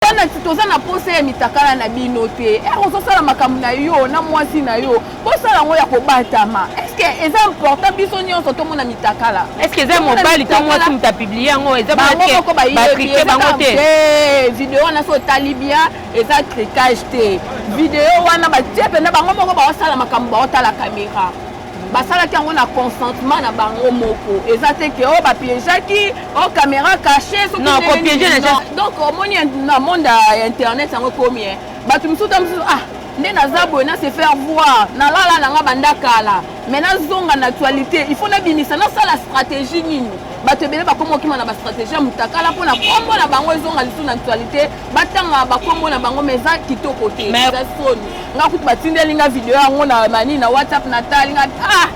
bana toza na posa ya mitakala na bino te ere eh, ozosala makambo na yo na mwasi na yo bosala yango ya kobatama eske eza important biso nyonso tomona mitakala eske eza mobali to mwasi moto apiblie yango ezabangomoko bayebi bango te eh, video wana so otali bien eza tricage te video wana batie mpenza bango moko baosala makambo baotala kamera basalaki yango na consentement na bango moko eza te ke oyo oh, bapiégeaki o oh, caméra caché donc omoni na monde ya internet yango ekomi eh. bato mosusu ta mosusu ah nde naza boye na se faire voir nalala na nga banda kala mai nazonga na actualité il faut nabimisa nasala stratégie nini bato ebele bakoma okima na bastratégie ya motakala mpo na kombo na bango ezonga lisusu na actualité batanga bakombo na bango mais eza kitoko te eza soni nga kutu batindeli nga video yango na mani na whatsapp natali nga ah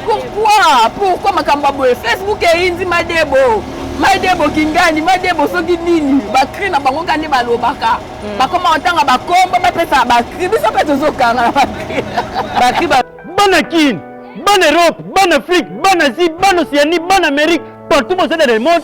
pourquoi pourquoi makambo ya boye facebook eyindi madebo madebo kingani madebo soki nini bakri na bango kande balobaka hmm. bakoma kotanga bakombo bapesaka bakri biso mpe tozokanga na bakri bana kini bana europe bana afrique bana asie bana océanie bana amérique partout bozali na le monde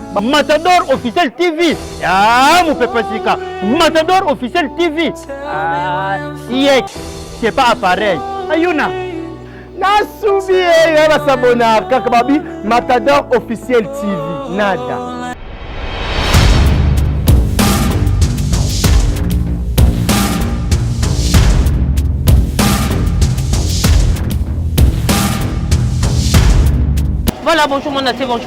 Matador officiel TV. Ah, mon papa Sika. Matador officiel TV. Ah, siècle. C'est pas appareil. Ayuna. nasubi ye ya basabona kaka babi matador officiel tv nada Voilà, bonjour mon bonjour.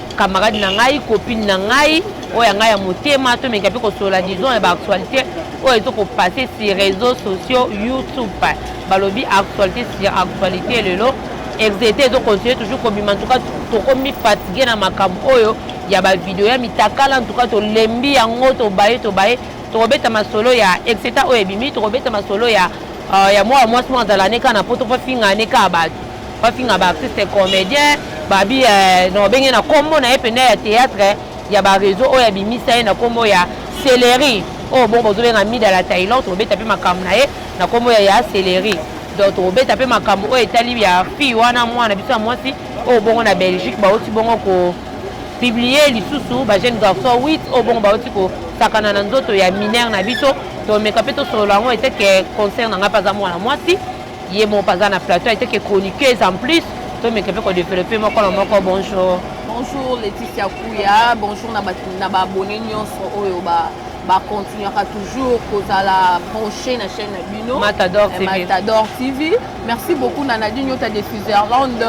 camarade na ngai copine na ngai oyo ya ngai ya motema tomeka mpe kosolola disons ya baactualité oyo ezo kopasse sur réseaux sociaux youtube balobi actualité sur actualité lelo exete ezo continue toujours kobima ntuka tokomi fatigue na makambo oyo ya bavideo ya mitakala ntuka tolembi yango tobaye tobaye tokobeta masolo ya exeta oyo ebimi tokobeta masolo ya euh, ya mwana mwasi moko azala ne kaka na poto mpo afingane kaka bato bafinga ba artiste comédien babi eh, na babenge na kombo na ye mpenza ya théâtre ya bareseau oyo abimisa ye na kombo ya celerie oyo oh, bongo bozobenga mida la tailor tokobeta mpe makambo na ye na kombo ya ya celerie donc tokobeta mpe makambo oyo etali ya fille wana mwana biso ya mwasi oyo oh, bongo na belgique bauti bongo ko publie lisusu bajeune garçon 8 oyo bongo bauti kosakana na nzoto ya minere na biso tomeka mpe tosolola yango eteke concert na ngai mpe aza mwana mwasi Ye moko aza na plateau ayete que chroniqueuse en plus tomeka mpe ko developper moko na moko bonjour. Bonjour Laetitia Kuya, bonjour na ba na ba abonnés nyonso oyo ba ba continuera toujours kozala branché na chaîne na bino Matador TV. Matador TV. Merci beaucoup na Nadine Yota de Switzerland,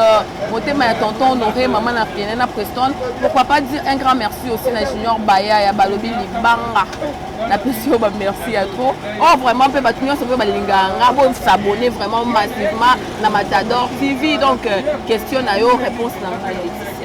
motema ya tonton Honoré, maman na Fiena na Preston. Pourquoi pas dire un grand merci aussi na Junior Baya ya balobi libanga. napesi yo bamerci ya trop o oh, vraiment mpe bato nyonso mpe balingaka nga bosabone vraiment massivement na matador tv donc euh, question na yo réponse na ngai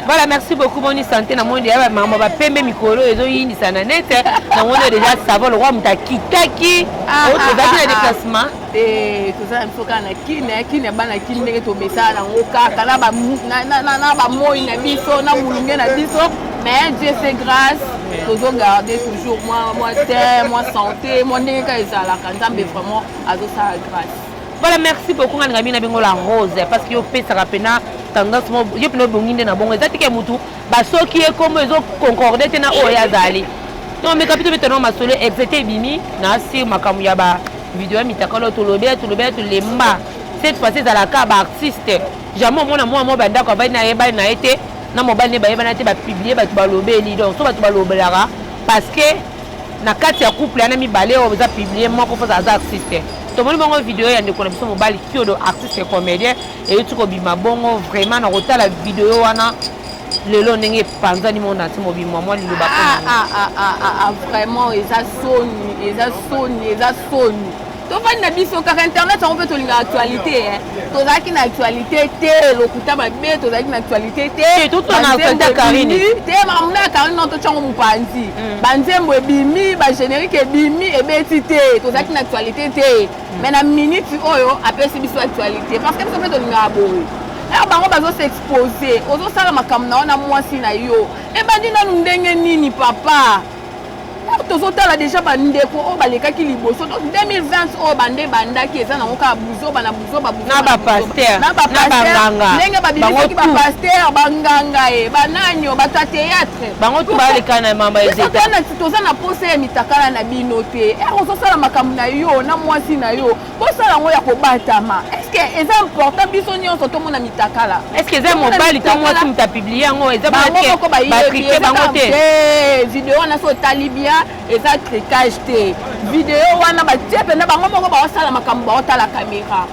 voilà merci beaucoup moni santé na moni deya bamama bapembe mikolo ezoyindisa na nete na moni deja savon lokwa moto akitaki ah, ah, ozalaki na ah, déplacement te toza na biso kaka na kine eh, kine bana kine ndenge tomesana nango kaka na bamoi na biso na molunge na biso mais dieu se grâce tozo garde toujours mwa mwa te mwa santé mwa ndenge kaka ezalaka nzambe vraiment azosala grâce voilà merci beaucoup nga ningami na bengo la rose parce que yo opesaka mpena tendance mo yo mpena obongi nde na bongo eza teke motu Ba soki ye kombo ezo concorde te na oyo azali. Donc meka bito beta na masolo exete ebimi na sur makambo ya ba video ya mitakalo tolobela tolobela tolemba. Cette fois ezalaka ba artiste. Jamais omona mwa mwa bandako avandi na yebani na ye te na mobali ne bayebana te bapublie bato balobeli donc so bato balobelaka parce que na kati ya couple yana mibale oyo eza publie moko mpoza aza artiste tomoni bango video ya ndeko na biso mobali kiodo artiste comédien euti kobima bongo vraiment na kotala video wana lelo ndenge epanzani mo nati mobimwa mwa liloba ah, ah, ah, vraiment eza soni eza soni eza soni tofandi na biso kaka internet yango mpe tolinga actualité eh. tozalaki na actualité te lokuta mabe tozalaki na actualité te te karine non totyango mopanzi mm. banzembo ebimi bagénérique ebimi ebeti te tozalaki na actualité te mais na minute oyo apesi biso actualité parce que biso mpe tolingaka boye ere bango bazo s'expose ozosala makambo na yo na mwasi na yo ebandi nanu ndenge nini papa tozotala deja bandeko oyo balekaki liboso donc 2020 oyo bande bandaki eza nango kaka buzoba na buzoba na bapaster na bapasternenge babimisaki bapaster banganga ye bananio bato ya théâtre bango tu balekana na mama ezetati toza na mposa ya mitakala na bino te ere eh, ozosala makambo na yo na mwasi na yo bosala yango ya kobatama estce eza important biso nyonso tomona mitakala estce eza mobali to mwasi moto apiblie yango eza moko bayebi bango te eh, video wana so otali bien eza tricage te video wana batie mpenza bango moko baosala makambo baotala kamera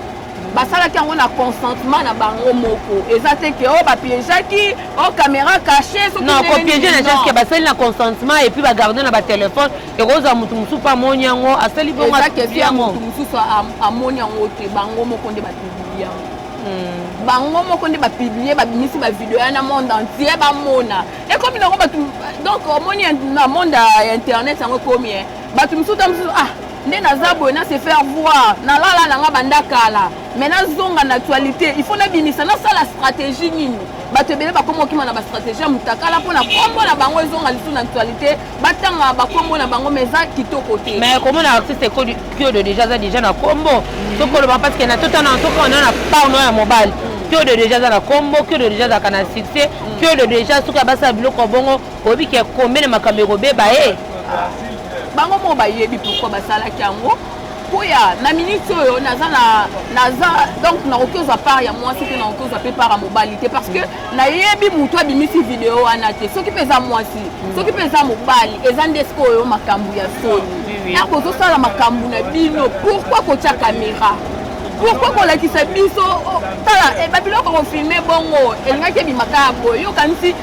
basalaki yango na consentement na bango moko eza te ke oyo oh, bapiejaki o oh, caméra cache non kopiege na jaske basali na consentement epuis bagarde na batelefone ekozwa motu mosusu mpe amoni yango asali bongomotu mosusu amoni yango te bango moko nde bapibli yango hmm. bango moko nde bapiblie babimisi bavideo ya na monde entier bamona ekomi nango bato donc omoni na monde ya internet yango ekomi bato mosusu ta mosusu ah nde naza boye na se faire voir nalala na nga banda kala mai nazonga na actualité il faut nabimisa nasala stratégie nini bato ebele bakoma okima na bastratégie ya motakala mpo na nkombo na bango ezonga lisusu na actualité batanga bakombo na bango mai eza kitoko te mais kombo na artiste kiodo déjà aza déjà na kombo mm. soki oloba parce que na totana soki ona na parno ya mobali kiodo déjà aza na kombo kiodo déjà azalaka na succès kiodo déjà soki abasala biloko bongo Oyebi ke kombe na makambo ekobeba e. Bango moko bayebi pourquoi basalaki yango mpo ya na miniti oyo naza na naza donc nakoki ozwa part ya mwasi mpe nakoki ozwa mpe part ya mobali te parce que nayebi motu abimisi video wana te soki mpe eza mwasi soki mpe eza mobali eza nde sikoyo makambo ya soni ntango ozosala makambo na bino pourkui kotya kamera pourkui kolakisa biso oh, tala eh, babiloko kofilme bongo elingaki ebimaka ya boye yokanisi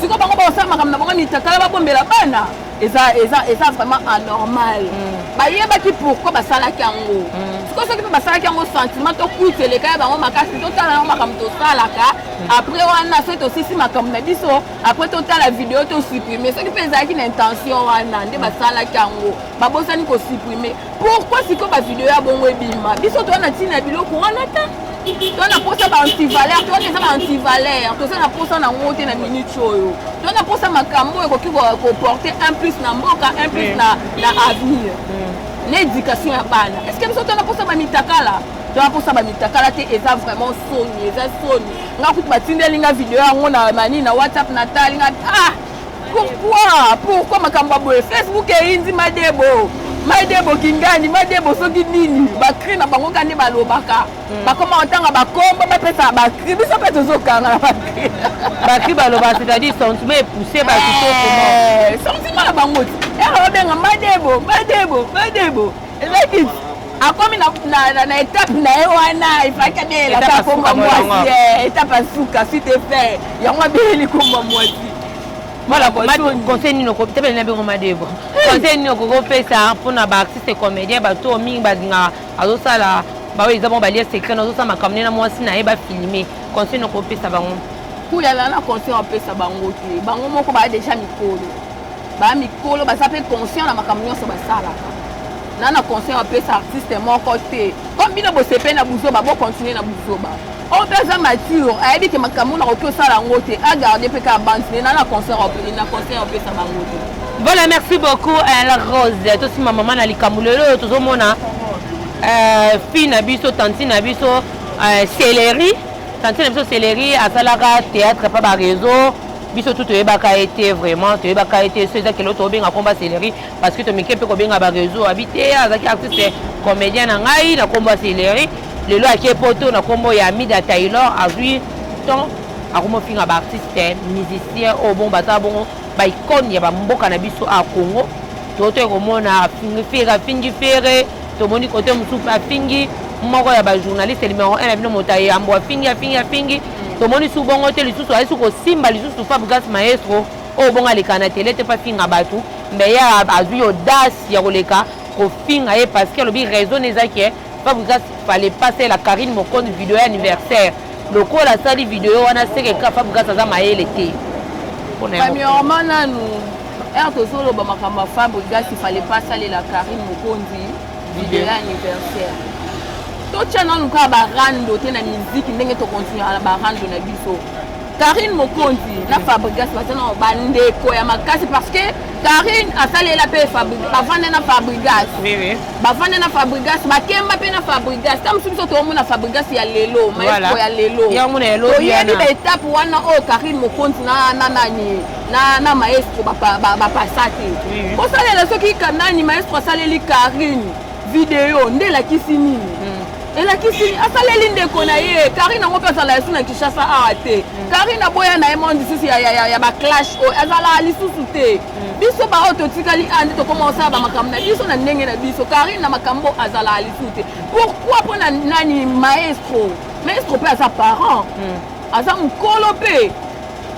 sikoyo bango bakosala makambo na bango mitakala babombela bana eza eza eza vraiment anormal mm. bayebaki pourquoi basalaki yango mm. sikoyo soki mpe basalaki yango sentiment to kuiti eleka ya bango makasi totala yango makambo tosalaka mm. après wana soki tosisi makambo na biso après totala video tosupprime soki mpe ezalaki na intention wana nde basalaki yango babosani kosupprime Pourquoi siko ba video ya bongo ebima? Biso toza na tina biloko wana ta. Toza na posa ba antivaleur, toza eza ba antivaleur, toza na posa na ngo te na minute oyo. Toza na posa makambo oyo ekoki ko porter un plus na mboka, un plus na na avenir. Mm. Na éducation ya bana. Est-ce que biso toza na posa ba mitakala? Toza posa ba mitakala te, eza vraiment soni, eza soni. Nga kutu batindeli nga video yango na mani na WhatsApp na tali nga ah Pourquoi? Pourquoi makambo ya boye? Facebook eyindi madebo. Madebo kingani, madebo soki nini? Ba cri na bango kande balobaka. Hmm. Bakoma otanga ba kombo ba pesa ba cri. Biso pe tozo kanga na ba cri. Ba cri baloba c'est-à-dire sentiment est poussé ba tout comment? Eh, sentiment na bango. Ero benga madebo, madebo, madebo. Lekit akomi na, na, na, na etape na ye wana efaki abelela kaka komba mwasi eh, etape ya suka suite effet yango abeleli komba mwasi conseil nini okotebele na bingo madebo conseil nini okoki opesa mpona baartiste comédien bato oyo mingi balingaka azosala baoyo eza bango balia secret nazosala makambo nde na mwasi na ye bafilme conseil nini okopesa bango kuyalana conseil apesa bango te bango moko baya deja mikolo ba mikolo baza mpe conscient na makambo nyonso basalaka na na conseil apesa artiste moko te comme bino bosepe na buzoba bocontinue na buzoba oyo oh, mpe aza mature ayebi ke makambo nakoki osala yango te agarde mpe kaka bantine na na conseil apesa bango te voilà merci beaucoup eh, la rose tosima mama na likambo lelo oyo tozomona eh, fille na biso tantine na biso eh, celerie tantine na biso celerie asalaka théâtre pa bareseau biso tu toyebaka ye te vraiment toyebaka ye te so eza kelo tobenga komba celeri parce que tomike mpe kobenga bareseau abi te azalaki artiste comédien na ngai na kombo ya celeri lelo ake poto na kombo ya mida taylor azwi temps akomofinga baartiste musicien oyo bongo baza bongo baicone ya bamboka na biso a congo totoki komona afingi fere afingi fere tomoni kote mosusu afingi moko ya bajournaliste numero 1 na bino moto ayambo afingi afingi afingi tomoni su bongo te lisusu ayesu kosimba lisusu fabgas maestro oyo bongo aleka na tele te mpe afinga bato mbe ye azwi audace ya koleka kofinga ye parce que alobi raison eza ke fabgas fale pase la carine mokonzi video ya anniversaire lokola asali video wana seke ka fabgas aza mayele te premièrement nanu ere tozoloba makambo ya fabrigas ifale pa asalela carine mokonzi libela anniversaire totya nanu kaka barando te na miziki ndenge tokontinuaka na barando na biso karine mokonzi na fabrigas baza na bandeko ya makasi parce que karine asalela mpe bavanda na fabrigas bavanda na fabrigas bakemba mpe na fabrigas ta mosusu biso toomona fabrigas ya lelo maestro ya lelo toyebi baetape wana oyo karine mokonzi na nani na, na maestro bapasa te kosalela soki kanani maestro asaleli karine video nde elakisi nini hmm. elakisi asaleli ndeko na ye karine yango mpe azala lisusu na kinshasa awa te hmm. karine aboya na ye mwa lisusu ya, ya, ya, ya baclash oyo azala lisusu te hmm. biso baoyo totikali a nde tokoma kosala bamakambo na biso na ndenge na biso karine na makambo oyo azala lisusu te pourkui mpo na nani maestro maestro mpe aza parent aza mokolo mpe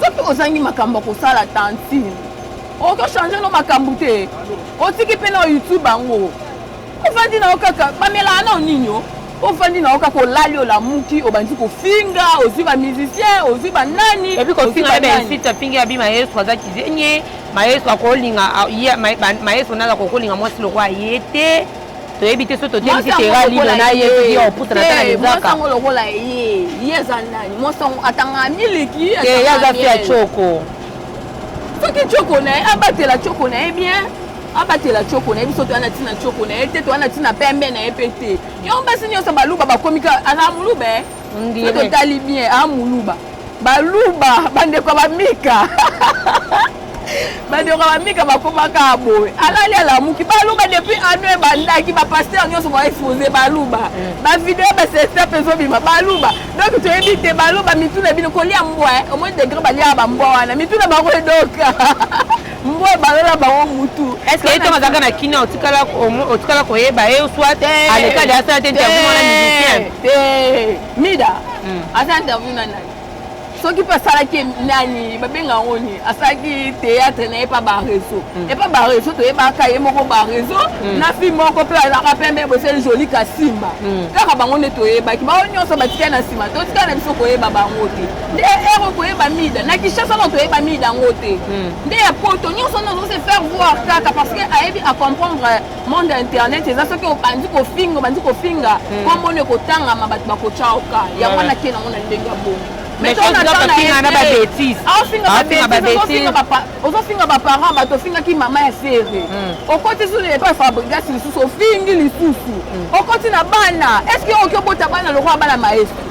soki ozangi makambo ya kosala tantine okoki ochange no makambo te otiki mpe na youtube yango ofandi na yo kaka bamelaa nao nini o ofandi na yo kaka olali olamuki obandi kofinga ozwi bamusicien ozwi banani epi kofinga bensite apingi abi maestro aza kizenye maestro akolinga maestro naza kokolinga mwasi lokola ye te toyebi te soki totebisi tera lino na ye soki ya kopusa na tana lizaka yango lokola ye ye eza nani mwasi yango atangaka miliki ye aza fi ya coko soki coko na ye abatela coko na ye bien abatela coko na ye biso toya na ntina coko na ye te toya na ntina pembe na ye mpe te yango basi nyonso baluba bakomi kaka aza moluba Ndire. Soki totali bien a muluba. Baluba bandeko ya bamika. bandeko ya bamika bakomaka boye alali alamuki baluba depuis ano ebandaki bapaster nyonso baexpose baluba mm. bavideo basesta mpe ezobima baluba donc toyebi te baluba mitu na bino kolia mbwa eh. omoi degre baliaka bambwa wana mitu na bango edoka mbwa ebalola bango mutu eto bazalaka na kina otikala koyeba ye soit alekali asala te interview wana musicien mida hmm. asala interview na nani soki mpe asalaki nani babenga yango nini asalaki théâtre na ye mpa bareseau hmm. epa bareseau toyebaka ye moko bareseau hmm. na fi moko mpe azalaka pembe boseli joli kasimba kaka bango nde toyebaki bango nyonso batikali na nsima totikali na biso koyeba bango te nde heure okoyeba mida na kinshasa na toyeba mida yango te hmm. nde ya poto nyonso nde ozosi faire voir kaka parce que ayebi acomprendre euh, monde ya internet eza soki obandi kofinga obandi kofinga hmm. kombona ekotangama bato bakotya oka yango wana te nango na ndenge ya bongo ozofinga baparent bato ofingaki mama ya sere hmm. okoti zulu epai fabrigas lisusu ofingi lisusu okoti na bana estce oki obota bana lokola bana maestro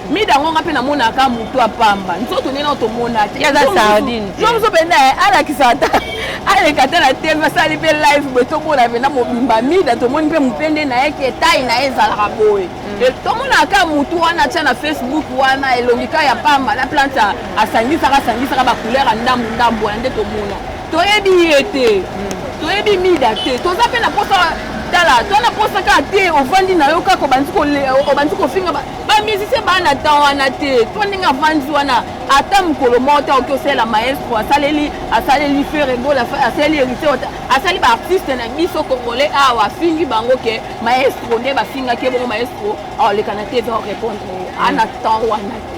mida yango nga mpe namonaka motu ya pamba nzoto nde nao tomona te eza sardine yo mosu mpenza eh, alakisa ata aleka ata na tv asali mpe live boye tomona mpenza mobimba mida tomoni mpe mopende na ye ke tai na ye ezalaka boye mm. eh, tomonaka kaka motu wana atya na facebook wana elongi kaka ya pamba na plante asangisaka asangisaka bacouleur ya ndambu ndambu wana nde tomona toyebi ye te mm. toyebi mida te toza mpe na mposa tala to na mposa kaka te ovandi na yo kaka obandi kofinga ba musicien baa na temps wana te to ndenge avandi wana ata mokolo moko te oki osalela maestro asaleli asaleli fere gola asaleli héritier asali baartiste na biso congolais awa afingi bango ke maestro nde bafingaki ebongo maestro aoleka na te eza orépondre ye ana temps wana te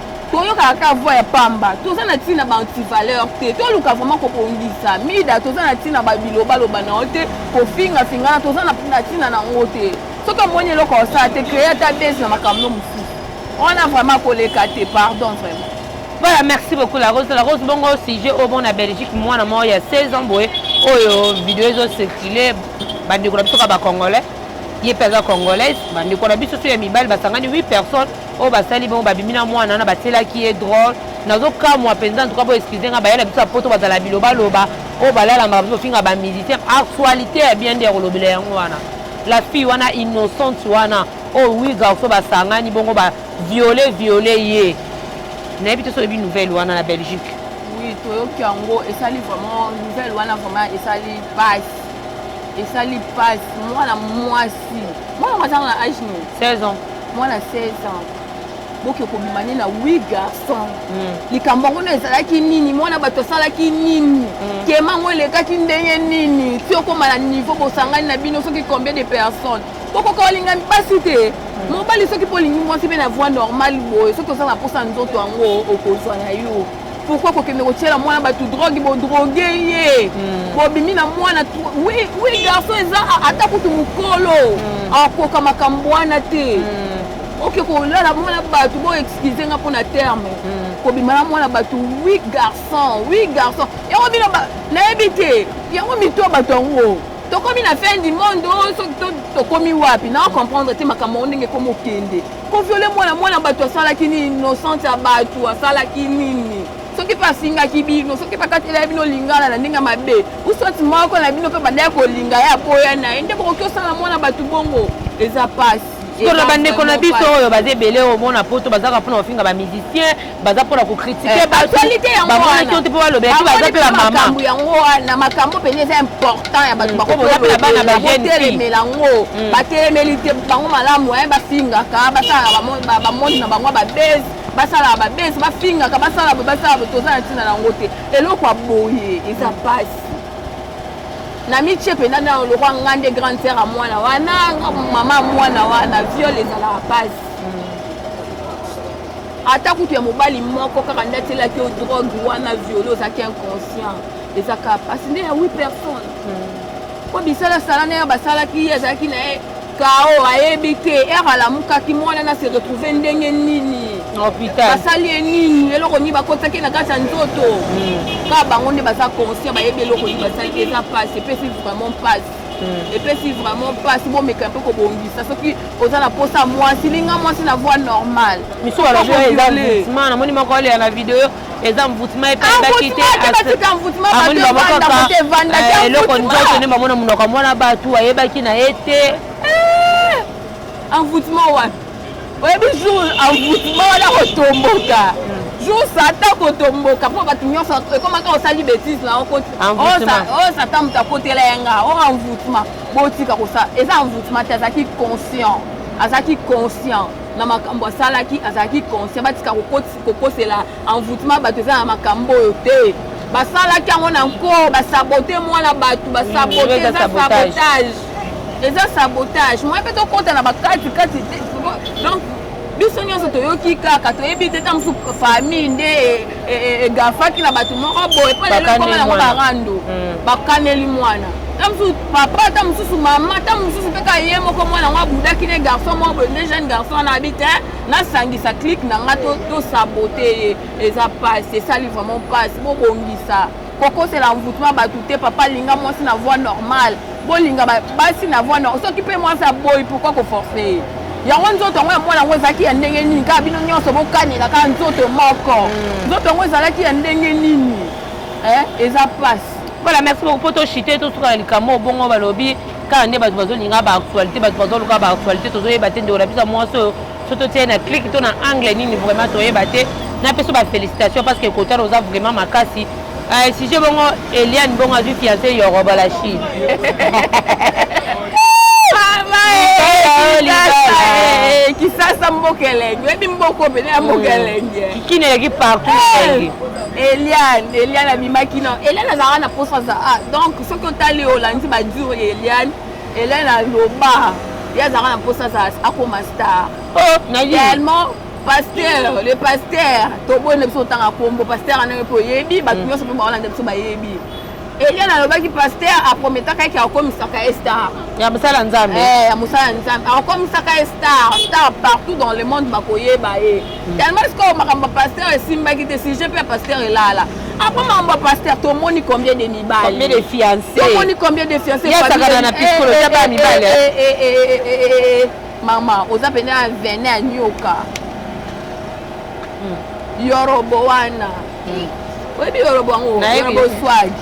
toyokaka ka voix ya pamba toza na ntina ba antivaleur te toluka vraiment kobongisa mida toza na ntina babilobaloba na yo te kofingafingana toza na ntina na yango te soki omoni eloko osala te créer ata base na makambo mosusu wana vraiment koleka te pardon vraiment voilà merci beaucoup la rose la rose bongo sujet oyo bongo na belgique mwana moko ya 16 ans boye oyo video ezo circule bandeko na biso ka bacongolais ye mpe aza congolaise bandeko na biso so ya mibali basangani 8 personnes oyo basali bango babimi na mwana wana batielaki ye drole nazokamwa mpenza ntuka bo excuse nga bayela biso ya poto bazala na bilobaloba oyo balalamaka biso bafinga bamusicien actualité ya bien nde ya kolobela yango wana la fille wana innocente wana oyo wi garso basangani bongo ba viole viole ye nayebi te soyebi nouvelle wana na belgique oui toyoki yango esali vraiment nouvelle wana vraiment esali pasi esali pasi mwana mwasi mwana mazanga na age nini 16 ans mwana 16 ans boke kobima nde na wi garçon hmm. likambo yango no ezalaki nini mwana bato asalaki nini hmm. kema yango elekaki ndenge nini ti okoma na niveau bosangani na bino soki combien de personnes bokoka olingami mpasi te hmm. mobali soki mpo olingi mwasi mpe na voie normale boye soki oza na mposa nzoto yango okozwa na yo pourquoi kokende kotiela mwana bato drogue bodroge ye hmm. bobimi na mwana wi wi garçon eza ata kutu mokolo hmm. akoka makambo wana te hmm. oke kolala mwana bato bo excuse nga mpona terme kobima na mwana bato wi garçon wi garçon yango bino nayebi te yango mito ya bato yango tokomi na fin du monde oyo oh, soki tokomi wapi na comprendre te makambo yango ndenge ekomi okende Ko violer mwana mwana batu asalaki nini innocente ya batu asalaki nini soki mpe asingaki bino soki mpe akatelaki bino lingala na ndenge mabe uswati moko na bino mpe bandaki kolinga ye aboya na ye nde bokoki osala mwana bato bongo eza mpasi tona bandeko na biso oyo baza ebele omona poto bazaka mpona kofinga bamusicien baza mpona kokritike eh, batualite yangobamonaki te mpo balobela te baza mpe bamamakambo yango wana makambo mpenza eza important ya bato bakotelemela mm. yango mm. batelemeli te bango malamu aye eh, bafingaka basalaka bamonde na bango babese basalaka babese bafingaka basala basala toza na ntina na yango te eloko ya boye eza mpasi mm. na mitie mpenza na lokwa nga nde grande sere ya mwana wana mama mwana wana viole ezalaka mpasi ata kutu ya mobali moko kaka nde atielaki yo drogue wana viole ozalaki inconscient eza kaka mpasi nde ya wi personne mpo hmm. bisalasala na ye basalaki ye azalaki na ye kao ayebi te ere alamukaki mwana na se retrouve ndenge nini basali ye nini eloko nini bakotaki na kati ya nzoto hmm. kaka bango nde baza conscient bayebi eloko nini basali te eza mpasi epesi vraiment mpasi hmm. epesi vraiment mpasi bomeka mpe kobongisa soki oza na mposa mwasi linga mwasi na voix normale misu balobioezama namoni moko alela na video eza mvutima epandaki te amoni bango kaka eh, eloko nzoto nde bamona monoko ya mwana bato ayebaki na ye te envoûtement wapi oyebi jour envoûtement wana kotomboka jour satan kotomboka mpo bato nyonso ekomaka osali bétise na okoti oyo satan moto akotela ya nga o envoûtement botika kosala eza envoûtement te azalaki conscient azalaki conscient na makambo asalaki azalaki conscient batika kokotisa kokosela envoûtement bato eza na makambo oyo te basalaki yango na nko basabote mwana bato basabote eza sabotage eza sabotage moye mpe tokɔta na bakati kati te donc biso nyonso toyoki kaka toyebi te ta mosusu famille nde e, e, e, egafaki na bato moko boye mpo lelo ekoma yango barando mm. bakaneli mwana ta mosusu papa ta mosusu mama ta mosusu mpe ka ye moko mwana yango abudaki ne garçon moko boye nde jeune garçon wana abi te nasangisa clique na nga to, to sabote ye eza pasi esali vraiment pasi bobongisa kokosela envoutema bato te papa linga mwasi na voix normale bolinga basi na voix normale soki mpe mwasi aboyi pourkoi koforce ye yango nzoto yango ya mwana yango ezalaki ya ndenge nini kaka bino nyonso bokanela kaka nzoto moko hmm. nzoto yango ezalaki ya ndenge nini eh, eza pasi voilà merci beaucoup mpo toshite tosuka na likambo obongo balobi kaka nde bato bazolinga ba actualité bato bazoluka ba actualité tozoyeba te ndeko na biso ya mwasi oyo so totie na clike to na angle nini vraiment toyeba te napeso bafélicitation parce que kotana oza vraiment makasi eh, sujet bongo eliane bongo azwi fiance yoroba la chine kisasa mboka elenge oyebi mboka opene ya mboka hmm. elenge kini eleki partout eh, eliane eliane abimaki no eliane azalaka na posa za ah, donc soki otali olandi badur ya eliane eliane aloba ye azalaka na mposa azala akoma star oh, tellement pasteur le pasteur toboyi na biso otanga nkombo pasteur anange mpo oyebi bato mm. nyonso mpe baolanda biso bayebi eliane alobaki pasteur aprometaka eke akomisaka ye star ya mosala nzambe eh, ya mosala nzambe akomisaka ye star star partout dans le monde bakoyeba ye yango sikoyo makambo ya pasteur esimbaki te sujet mpe ya pasteur elala apo makambo ya pasteur tomoni combien de mibalicombien de fiancetomoni combien de fianceyasakana na piskolo ya bana mibali mama oza mpenza ya vene ya nyoka yorobo wana oyebi yorobo yango yorobo swagi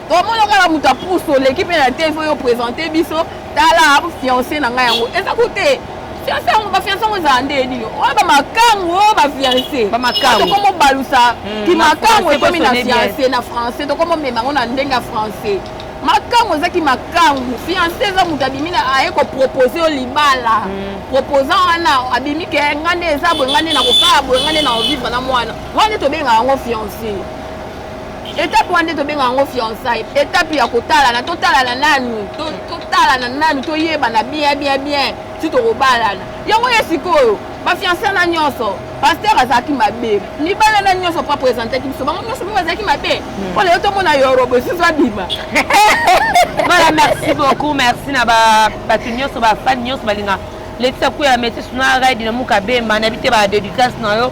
omona kaka moto ya pusu oleki mpe na tv oyo présente biso tala fiance na ngai yango eza ko te fiance yango bafiance yango ezala nde nini oyo bamakangu oyo bafiance tokomobalusa hmm, kimakangu ekomi na fiance na français tokomomema yango na ndenge ya français makangu ezaki makangu fiance eza moto abimi na aye kopropose yo libala hmm. proposant wana abimi ke ngai nde eza boye ngai nde nakosala boye ngai nde na ovivre na mwana wana nde tobengaka yango fiance etape wana nde tobenga yango fiançai etape ya kotalana totalana nanu totalana nanu toyebana bien bien bien ti tokobalana yango ye sikoyo bafiançai na nyonso paster azalaki mabe libala na nyonso po apresentaki biso bango nyonso mpe bazalaki mabe mpo hmm. lelo tomona yorobo esusu abima voilà merci beaucoup merci na bato nyonso bafani nyonso balinga letisa kuya metisi na ride na muka bemba na bite ba dedicace na yo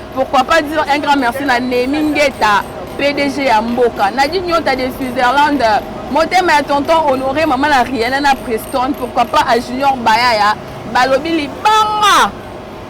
Pourquoi pas dire un grand merci na Nemi Ngeta, PDG ya Mboka. Nadine Nyota de Switzerland, motema ya tonton Honoré, maman na Rihanna na Preston, pourquoi pas à Junior Bayaya, balobi libanga.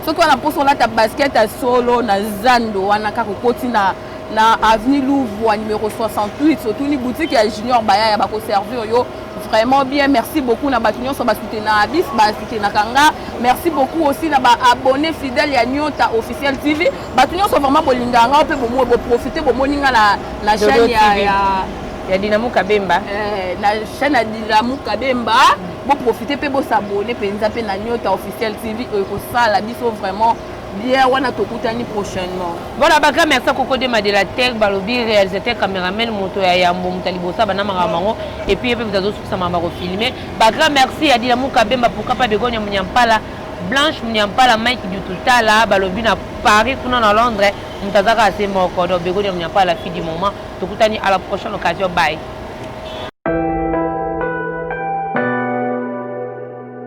Soki wana poso olata basket ya solo na zando wana kaka okoti na na avenue Louvre numéro 68 otuni boutique ya Junior Bayaya bakoservir yo Vraiment bien, merci beaucoup na batu nyonso ba soutena bis ba soutena kanga. Merci beaucoup aussi na ba abonnés fidèles ya Nyota officiel TV. Batu nyonso vraiment bolinga nga pe bomo bo profiter bomoni nga na na chaîne ya, ya ya Dinamo Kabemba. Eh, na chaîne ya Dinamo Kabemba. Bo profiter pe bo s'abonner penza pe na Nyota officiel TV oyo ko sala biso vraiment bière wana tokutani prochainement voilà baka merci à coco dema de la tech balobi réalisateur cameraman moto ya yambo moto ya liboso abanda makambo yango epuis ye mpe moto azosukisa makambo akofilme baka merci ya dila muka bemba pourka pa begonia munyampala blanche munyampala mike dututala balobi na paris kuna na londres moto aza kaka se moko donc begonia munyampala fille du moment tokutani à la prochaine occasion bye